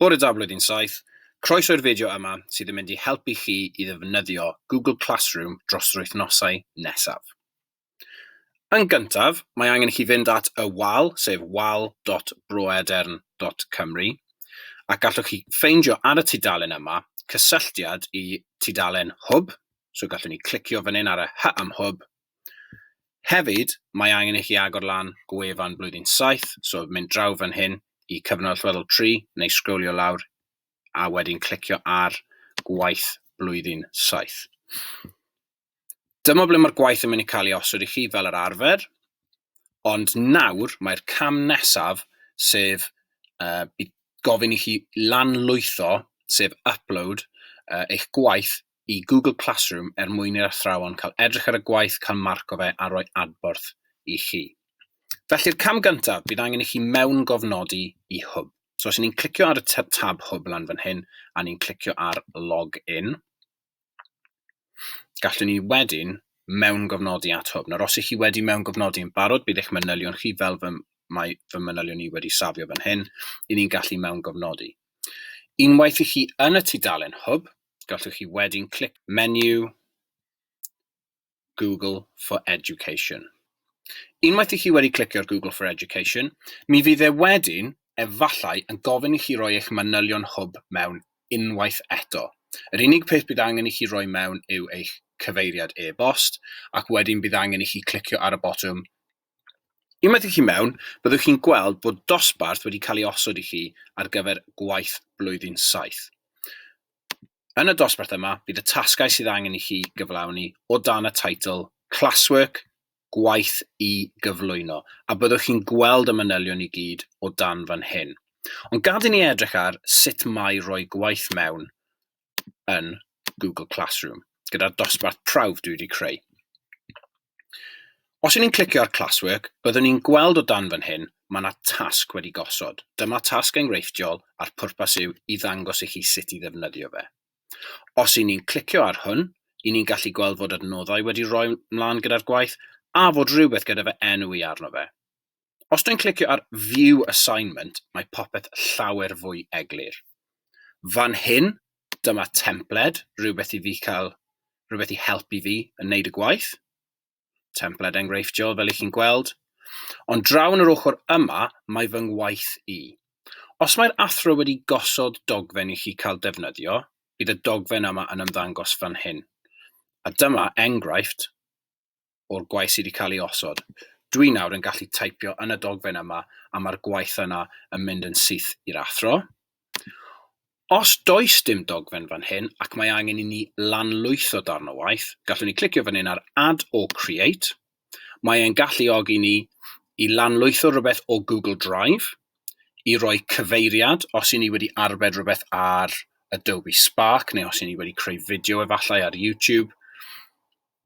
Bore da Blwyddyn Saith, croeso i'r fideo yma sydd yn mynd i helpu chi i ddefnyddio Google Classroom dros yr wythnosau nesaf. Yn gyntaf, mae angen i chi fynd at y wal, sef wal.broedern.cymru, ac gallwch chi ffeindio ar y tudalen yma cysylltiad i tudalen Hwb, so gallwn ni clicio fan hyn ar y Hy am Hwb, Hefyd, mae angen i chi agor lan gwefan blwyddyn saith, so mynd draw fan hyn i cyfnod allweddol tri, neu sgrolio lawr a wedyn clicio ar gwaith blwyddyn saith. Dyma ble mae'r gwaith yn mynd i cael ei osod i chi fel yr arfer, ond nawr mae'r cam nesaf, sef uh, gofyn i chi lanlwytho, sef upload, uh, eich gwaith i Google Classroom er mwyn i'r athrawon cael edrych ar y gwaith, cael marc o fe a rhoi adborth i chi. Felly'r cam gyntaf, bydd angen i chi mewngofnodi i Hwb. So os y'n ni'n clicio ar y tab Hwb lan fan hyn a ni'n clicio ar Log In, gallwn ni wedyn mewngofnodi at Hwb. Nawr os ych chi wedi mewngofnodi yn barod, bydd eich manylion chi fel fy, mae fy manylion i wedi safio fan hyn, i ni'n gallu mewngofnodi. Unwaith i chi yn y tudalen Hwb, gallwch chi wedyn clic menu Google for Education. Unwaith i chi wedi clicio ar Google for Education, mi fydd e wedyn efallai yn gofyn i chi roi eich manylion hwb mewn unwaith eto. Yr unig peth bydd angen i chi roi mewn yw eich cyfeiriad e-bost ac wedyn bydd angen i chi clicio ar y botwm Unwaith i chi mewn, byddwch chi'n gweld bod dosbarth wedi cael ei osod i chi ar gyfer gwaith blwyddyn saith. Yn y dosbarth yma, bydd y tasgau sydd angen i chi gyflawni o dan y teitl Classwork, Gwaith i gyflwyno, a byddwch chi'n gweld y manylion i gyd o dan fan hyn. Ond gad i ni edrych ar sut mae rhoi gwaith mewn yn Google Classroom gyda'r dosbarth prawf dwi wedi creu. Os yw'n i'n clicio ar Classwork, byddwn ni'n gweld o dan fan hyn, mae yna tasg wedi gosod. Dyma tasg enghreifftiol a'r pwrpas yw i ddangos i chi sut i ddefnyddio fe. Os yw'n ni'n clicio ar hwn, i ni'n gallu gweld fod adnoddau wedi rhoi mlaen gyda'r gwaith a fod rhywbeth gyda fe enw i arno fe. os dwi'n clicio ar view assignment, mae popeth llawer fwy eglur. Fan hyn, dyma templed, rhywbeth i fi cael, rhywbeth i helpu fi yn wneud y gwaith. Templed enghreifftiol fel i chi'n gweld. Ond draw yn yr ochr yma, mae fy ngwaith i. Os mae'r athro wedi gosod dogfen i chi cael defnyddio, bydd y dogfen yma yn ymddangos fan hyn. A dyma enghraifft o'r gwaith sydd wedi cael ei osod. Dwi nawr yn gallu taipio yn y dogfen yma a mae'r gwaith yna yn mynd yn syth i'r athro. Os does dim dogfen fan hyn ac mae angen i ni lanlwytho darn o waith, gallwn ni clicio fan hyn ar Add or Create. Mae e'n galluogi ni i lanlwytho rhywbeth o Google Drive, i roi cyfeiriad os i ni wedi arbed rhywbeth ar Adobe Spark neu os i ni wedi creu fideo efallai ar YouTube,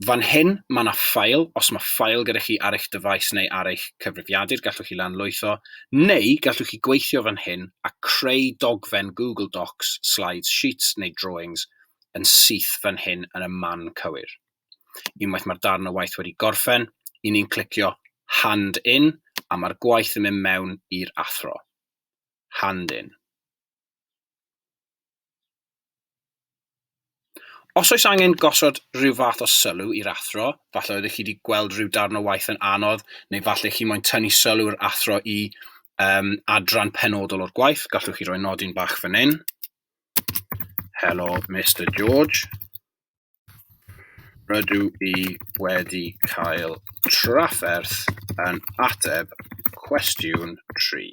Fan hyn, mae yna ffael, os mae ffael gyda chi ar eich dyfais neu ar eich cyfrifiadur, gallwch chi lanlwytho, neu gallwch chi gweithio fan hyn a creu dogfen Google Docs, Slides, Sheets neu Drawings yn syth fan hyn yn y man cywir. Unwaith mae'r darn o waith wedi gorffen, i ni'n clicio Hand In a mae'r gwaith yn mynd mewn i'r athro. Hand In. Os oes angen gosod rhyw fath o sylw i'r athro, falle oeddech chi wedi gweld rhyw darn o waith yn anodd, neu falle chi moyn tynnu sylw'r athro i um, adran penodol o'r gwaith, gallwch chi roi nodyn bach fan hyn. Hello, Mr George. Rydw i wedi cael trafferth yn ateb cwestiwn 3.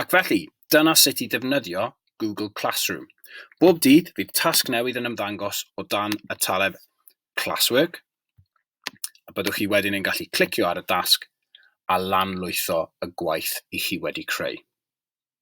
Ac felly, dyna sut i ddefnyddio Google Classroom. Bob dydd, fydd tasg newydd yn ymddangos o dan y taleb Classwork, a byddwch chi wedyn yn gallu clicio ar y dasg a lanlwytho y gwaith i chi wedi creu.